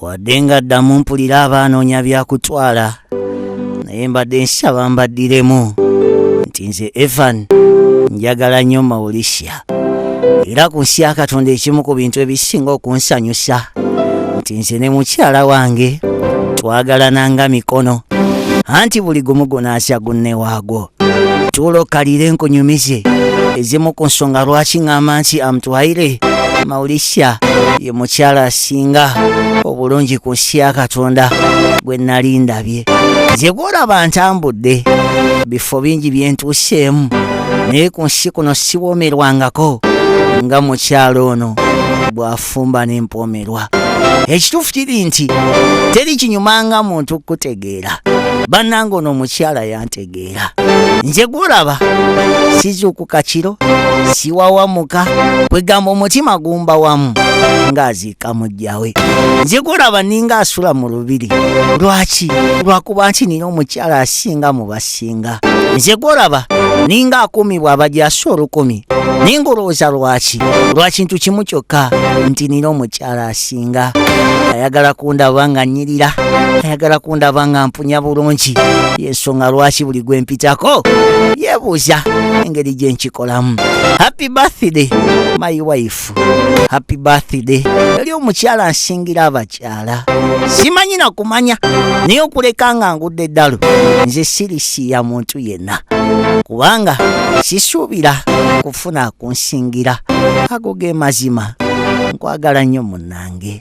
wadde nga ddamu mpulira abaanoonya byakutwala naye mbadde nsaba mbaddiremu nti nze evan njagala nnyo maulisha era ku nsi ya katonda ekimu ku bintu ebisinga okunsanyusa nti nze ne mukyala wange twagalana nga mikono anti buli gumu gunaasya gunne waagwo tulo kalire nkunyumize ezimu ku nsonga lwaki ng'amba nti amutwaire maulisya ye mukyala asinga obulungi ku nsi ya katonda gwe nali ndabye nze gwolaba ntambudde bifo bingi byentuuseemu naye ku nsi kuno siwomerwangako nga mukyala ono bw'afumba n'empomerwa ekituufu kiri nti teri kinyumanga muntu kukutegeera bannanga ono omukyala yanti tegeera nze gwolaba sizuukuka kiro siwawamuka kwegamba omutima gumba wamu ng'aziika mujjawe nze gwolaba ninga asula mu lubiri lwaki lwakuba nti nina omukyala asinga mu basinga nze gwolaba ninga akuumibwa abajasi olukumi ninga olowooza lwaki lwakintu kimu kyokka nti nina omukyala asi kusinga ayagala kundaba nga nyirira ayagala kundaba nga mpunya bulungi yensonga lwaki buli gwe mpitako yebuuza engeri gye nkikolamu happy birthday my wife happy birthday yali omukyala nsingira abakyala simanyi na kumanya naye okuleka nga ngudde eddalu nze sirisiya muntu yenna kubanga sisuubira kufuna kunsingira ago ge mazima nkwagala nnyo munange